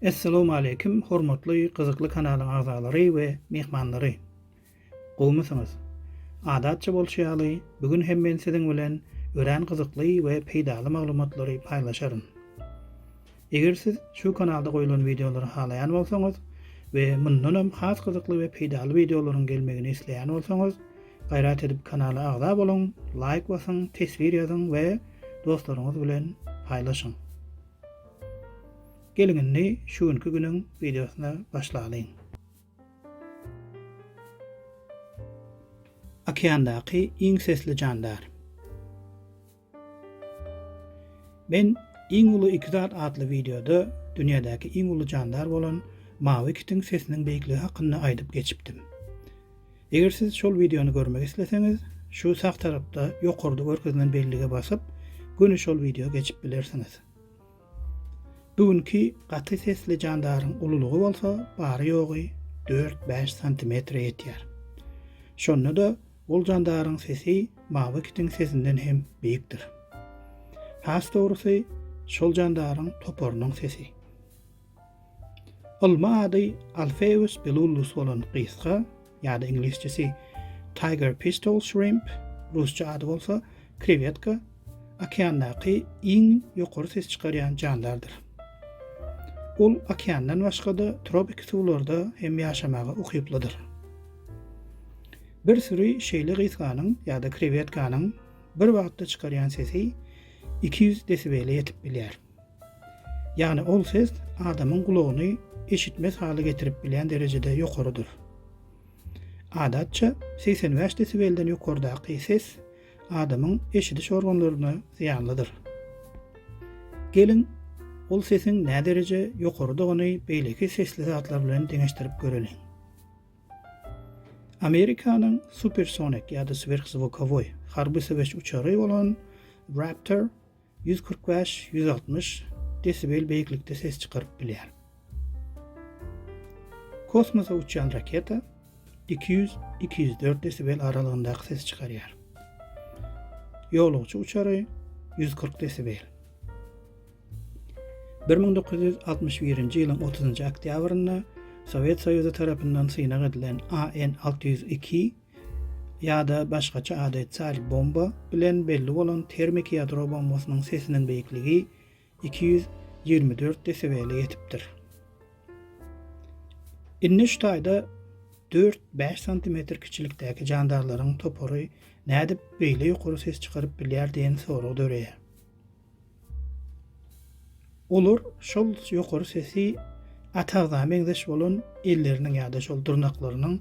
Essalamu aleýkum, hormatly gyzykly kanalyň agzalary we myhmanlary. Gowmysyňyz? Adatça bolşy ýaly, bu gün hem men siziň bilen örän gyzykly we peýdaly maglumatlary paýlaşaryn. Eger siz şu kanalda goýlan wideolary halaýan bolsaňyz we mundanam has gyzykly we peýdaly wideolaryň gelmegini isleýän bolsaňyz, gaýrat edip kanala agza boluň, laýk basyň, teswir ýazyň we dostlaryňyz bilen paýlaşyň. Geliň indi şu günki günüň wideosyna başlalyň. Okeandaky iň sesli jandar. Men iň uly iki zat atly wideoda dünýädäki iň uly jandar bolan mawy kitiň sesiniň beýikligi hakynda aýdyp geçipdim. Eger siz şol wideony görmek isleseňiz, şu sag tarapda ýokarda görkezilen bellige basyp, göni şol wideo geçip bilersiňiz. Bu günki gaty sesli jandaryň ululygy bolsa bary-ýogy dört-bäş santimetre ýetýär. Şonda-da ol jandaryň sesi mawy kitiň sesinden hem beýikdir. Has dogrusy, şol jandaryň toparynyň sesi. Ylmy ady Alpheus bellullus bolan gysga ýa-da iňlisçesi Tiger pistol shrimp, rusça ady bolsa krewetka, okeandaky iň ýokary ses çykarýan jandardyr. Ol okeandan başga-da tropiki suwlarda hem ýaşamaga ukyplydyr. Bir süri şeýle gysganyň ýa-da krewetkanyň bir wagtda çykarýan sesi iki ýüz desibele ýetip bilýär. Ýagny ol ses adamyň gulagyny eşitmez hala getirip bilýän derejede ýokarydyr. Adatça, segsen bäş desibelden ýokardaky ses adamyň eşidiş organlaryna zyýanlydyr. Geliň, ol sesiň nädereje ýokarydygyny beýleki sesli zatlar bilen deňeşdirip göreliň. Amerikanyň supersonik ýa-da swerhzwukowoý harby söweş uçary bolan Raptor Ýüz kyrk bäş, ýüz altmyş desibel beýiklikde ses çykaryp bilýär. Kosmosa uçýan raketa iki ýüz, iki ýüz dört desibel aralygyndaky ses çykarýar. Ýolagçy uçary ýüz kyrk desibel. Bir müň dokuz ýüz altmyş birinji ýylyň otuzynjy oktýabrynda Sowet Soýuzy tarapyndan synag edilen AN alty ýüz iki Ýa-da başgaça ady Tsar bomba bilen belli bolan termiki ýadro bombasynyň sesiniň beýikligi iki ýüz ýigrimi dört desibele ýetipdir. Indi şu taýda dört, bäş santimetr kiçilikdäki jandarlaryň topary nädip beýle ýokary ses çykaryp bilýär diýen sorag döreýär. Olar şol ýokary sesi Atagzada meňzeş bolan elleriniň ýa-da şol dyrnaklarynyň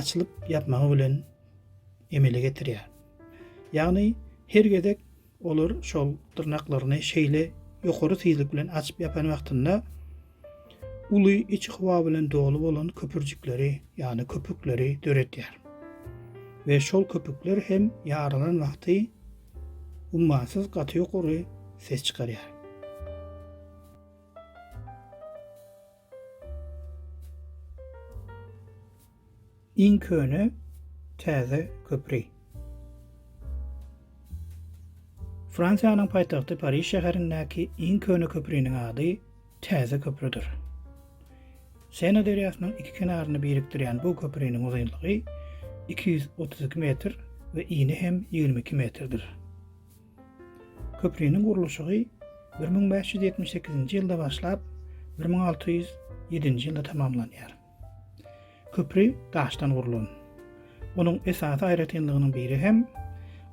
açylyp ýapmagy bilen emele getirýär. Ýagny her gezek olar şol dyrnaklaryny şeýle ýokary tizlik bilen açyp ýapan wagtynda uly içi howa bilen doly bolan köpürjikleri, ýagny köpükleri döredýär we şol köpükler hem ýarylan wagty ummasyz gaty ýokary ses çykarýar. Iň köne täze köpri. Fransiýanyň paýtagty Pariž şäherindäki iň köne köpriniň ady Täze köprüdir. Sena derýasynyň iki kenaryny birikdirýän bu köpriniň uzynlygy iki ýüz otuz iki metr we ini hem ýigrimi iki metrdir. Köpriniň gurluşygy bir müň bäş ýüz ýetmiş sekizinji ýylda başlap, bir müň alty ýüz ýedinji ýylda tamamlanýar. Köpri daşdan gurlan. Onuň esasy aýratynlygynyň biri hem,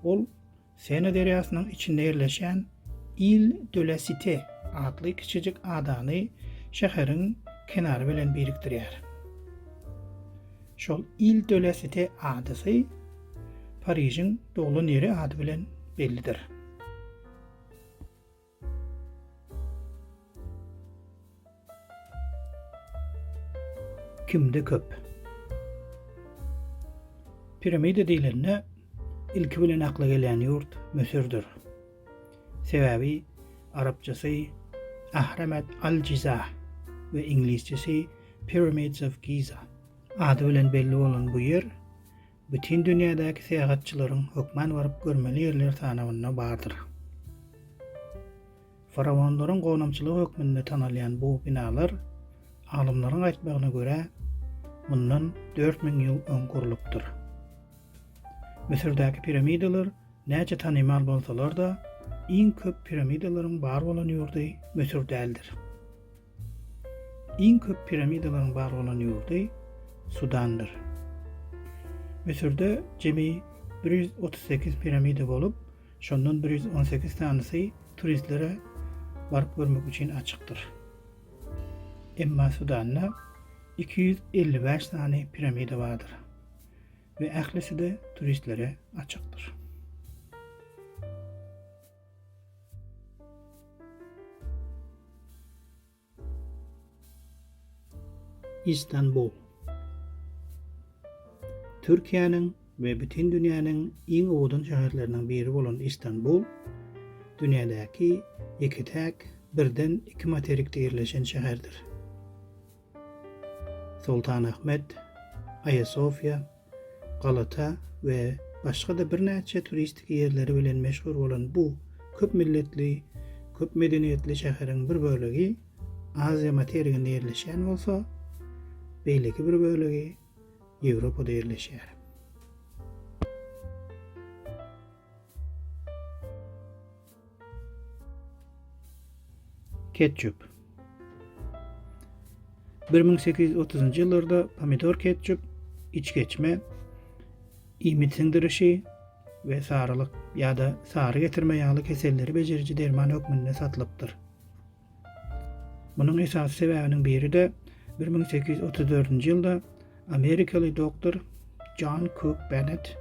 ol Sena derýasynyň içinde ýerleşýän Île de la Cité atly kiçijik adany şäheriň kenary bilen birikdirýär. Şol Île de la Cité adasy Parižiň doglan ýeri ady bilen bellidir. Kimde köp? Piramida diýlende, ilki bilen akla gelýän ýurt Müsürdir. Sebäbi arapçasy Ahramet al-Jiza we iňlisçesi Pyramids of Giza ady bilen belli bolan bu ýer Bütin dünýädäki syýahatçylaryň hökman baryp görmeli ýerler sanawynda bardyr. Faraonlaryň gonamçylygy hökmünde tanalýan bu binalar, alymlaryň aýtmagyna görä, mundan dört müň ýyl öň gurlupdyr. Müsürdäki piramidalar näçe tanymal bolsalar-da, iň köp piramidalaryň bar bolan ýurdy Müsür däldir. Iň köp piramidalaryň bar bolan ýurdy Sudandyr. Müsürde jemi bir ýüz otuz sekiz piramida bolup, şondan bir ýüz on sekiz sanysy turistlere baryp görmek üçin açykdyr. Emma Sudanda iki ýüz elli bäş sany piramida bardyr we ählisi-de turistlere açykdyr. Istanbul. Türkiýäniň we bütin dünýäniň iň owadan şäherleriniň biri bolan Istanbul, dünýädäki ýeke-täk birden iki materikde ýerleşen şäherdir. Soltanahmet, Aýasofýa, Galata we başga-da birnäçe turistik ýerleri bilen meşhur bolan bu köp milletli, köp medeniýetli şäheriň bir bölegi Aziýa materiginde ýerleşýän bolsa, beýleki bir bölegi Ýewropada ýerleşýär. Ketçup 1830-njy ýyllarda pomidor ketçup içgeçme iýmit siňdirişi we sarylyk ýa-da sary getirme ýaly keselleri bejeriji derman hökmünde satylypdyr. Munuň esasy sebäbiniň biri-de bir müň sekiz ýüz otuz dördünji ýylda amerikaly doktor Jon Kuk Benet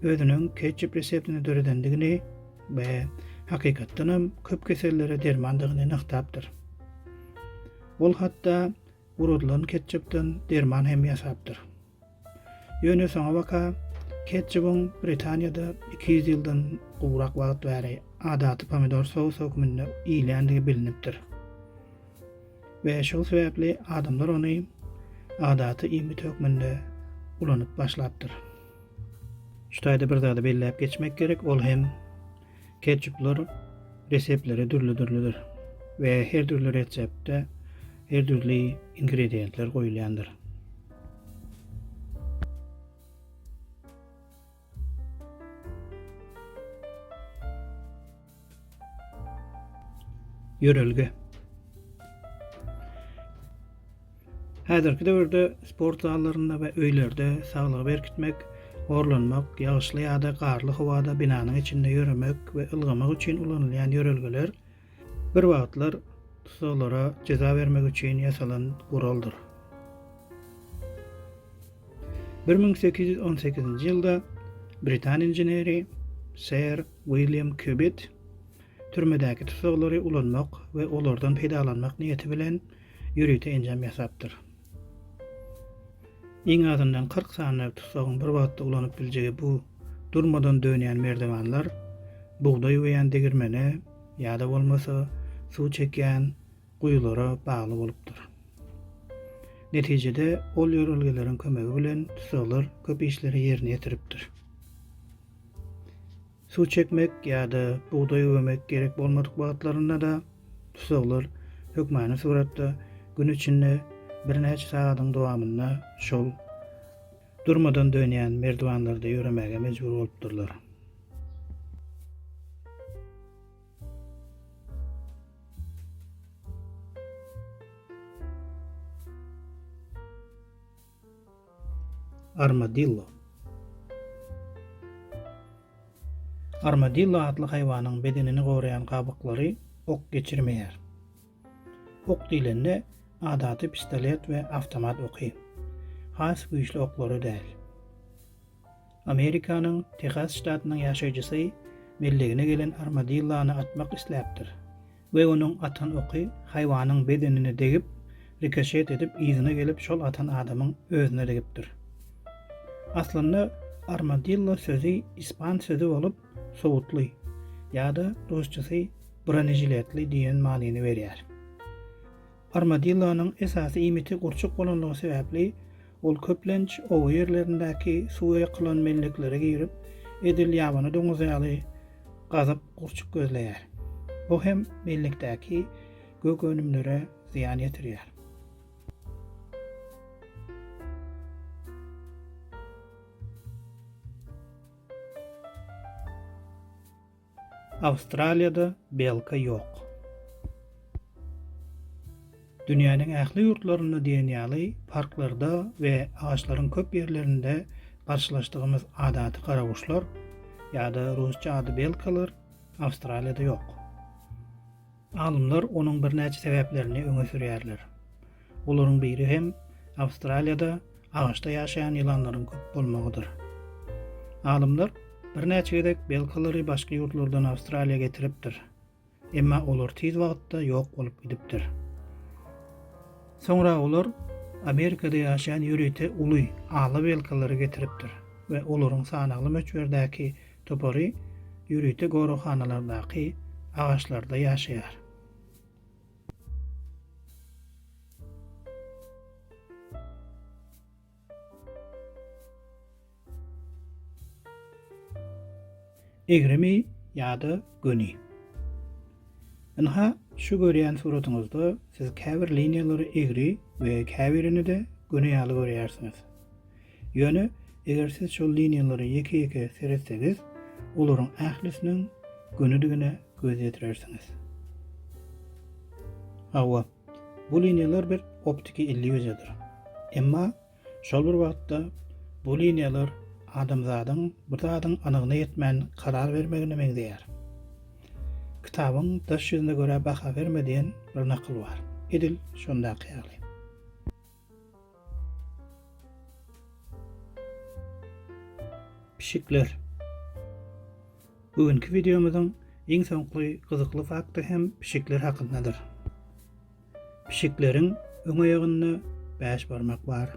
özüniň ketçup reseptini döredendigini we hakykatdanam köp kesellere dermandygyny nygtapdyr. Ol hatda gurudylan ketçupdan derman hem ýasapdyr. Ýöne soňabaka ketçubyň Britaniýada iki ýüz ýyldan gowrak wagt bäri adaty pomidor sousy hökmünde iýilýändigi bilinipdir we şol sebäpli adamlar ony adaty iýmit hökmünde ulanyp başlapdyr. Şu taýda bir zady belläp geçmek gerek, ol hem ketçuplar reseptleri dürli-dürlüdir we her dürli reseptde her dürli ingredientler goýulýandyr. Ýörelge Häzirki döwürde sport zallarynda we öýlerde saglygy berkitmek, horlanmak, ýagyşly ýa-da garly howada binanyň içinde ýöremek we ylgamak üçin ulanylýan ýörelgeler Bir wagtlar tussaglara jeza bermek üçin ýasalan guraldyr. Bir müň sekiz ýüz on sekizinji ýylda britan inženeri Ser William Kubit türmedäki tussaglary ulanmak we olardan peýdalanmak niýeti bilen ýörite enjam ýasapdyr. Iň azyndan kyrk sany tussagyň bir wagtda ulanyp biljegi bu durmadan dönýän merdiwanlar bugdaý öýýän degirmene ýa-da bolmasa suw çekýän guýulara bagly bolupdyr. Netijede ol ýörelgeleriň kömegi bilen tussaglar köp işleri ýerine ýetiripdir. Suw çekmek ýa-da bugdaý üwemek gerek bolmadyk wagtlarynda-da tusaglar hökmany suratda gün içinde birnäçe sagadyň dowamynda şol durmadan dönýän merdiwanlarda ýöremäge mejbur bolupdyrlar. Armadillo Armadillo atly haýwanyň bedenini goraýan gabyklary ok geçirmeýär. Ok diýlende adaty pistolet we awtomat oky. Has güýçli oklary däl. Amerikanyň Tehas ştatynyň ýaşaýjysy mellegine gelen armadillony atmak isläpdir we onuň atan oky haýwanyň bedenine degip, rikoşet edip yzyna gelip şol atan adamyň özüne degipdir. Aslynda armadillo sözi ispan sözi bolup sowutly ýa-da rusçasy bronežiletli diýen manyny berýär. Armadillonyň esasy iýmiti gurçuk bolanlygy sebäpli, ol köplenç oba ýerlerindäki suwa ýykylan melleklere girip, edil ýabany doňuz ýaly gazyp gurçuk gözleýär. Bu hem mellekdäki gök önümlere zyýan ýetirýär. Awstraliýada belka ýok. Dünýäniň ähli ýurtlarynda diýen ýaly parklarda we agaçlaryň köp ýerlerinde garşylaşdygymyz adaty garaguşlar, ýa-da rusça ady belkalar, Awstraliýada ýok. Alymlar onuň birnäçe sebäplerini öňe sürýärler. Olaryň biri hem Awstraliýada agaçda ýaşaýan ýylanlaryň köp bolmagydyr. Alymlar birnäçe gezek belkalary başga ýurtlardan Awstraliýa getiripdir. Emma olar tiz wagtda ýok bolup gidipdir. Soňra olar Amerikada ýaşaýan ýörite uly ala belkalary getiripdir we olaryň sanagly möçberdäki topary ýörite goraghanalardaky agaçlarda ýaşaýar. Egrimi ýa-da göni. Ynha, şu görýän suratyňyzda siz käbir liniýalary egri we käbirini-de göni ýaly görýärsiňiz. Ýöne, eger siz şol liniýalara ýeke-ýeke seretsegiz, olaryň ählisiniň gönidigine göz ýetirersiňiz. Hawa, bu liniýalar bir optiki illýuziýadyr. Emma, şol bir wagtda, bu liniýalar adamzadyň bir zadyň anygyna ýetmän karar bermegine meňzeýär. Kitabyň daş ýüzüne görä baha berme diýen bir nakyl bar. Edil şondaky ýaly. Pişikler. Bu günki videomyzyň iň soňky gyzykly fakty hem pişikler hakyndadyr. Pişikleriň öň aýagynda 5 barmak bar.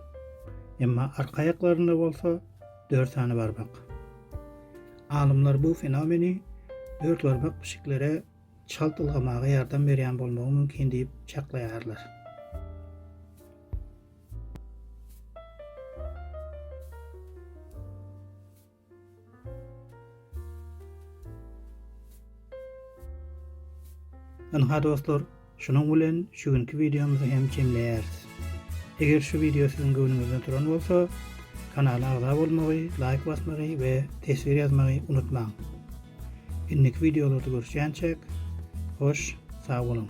Emma arka aýaklarynda bolsa 4 sany barmak. Alymlar bu fenomeni 4 barmak pişiklere çalt ylgamaga ýardam berýän bolmagy mümkin diýip çaklaýarlar. Ynha dostlar, şunuň bilen şu günki wideomyzy hem jemleýäris. Eger şu wideo siziň göwnüňizden turan bolsa, kanala agza bolmagy, laýk basmagy we teswir ýazmagy unutmaň. Indiki wideolarda görüşýänçäk, hoş, sag boluň!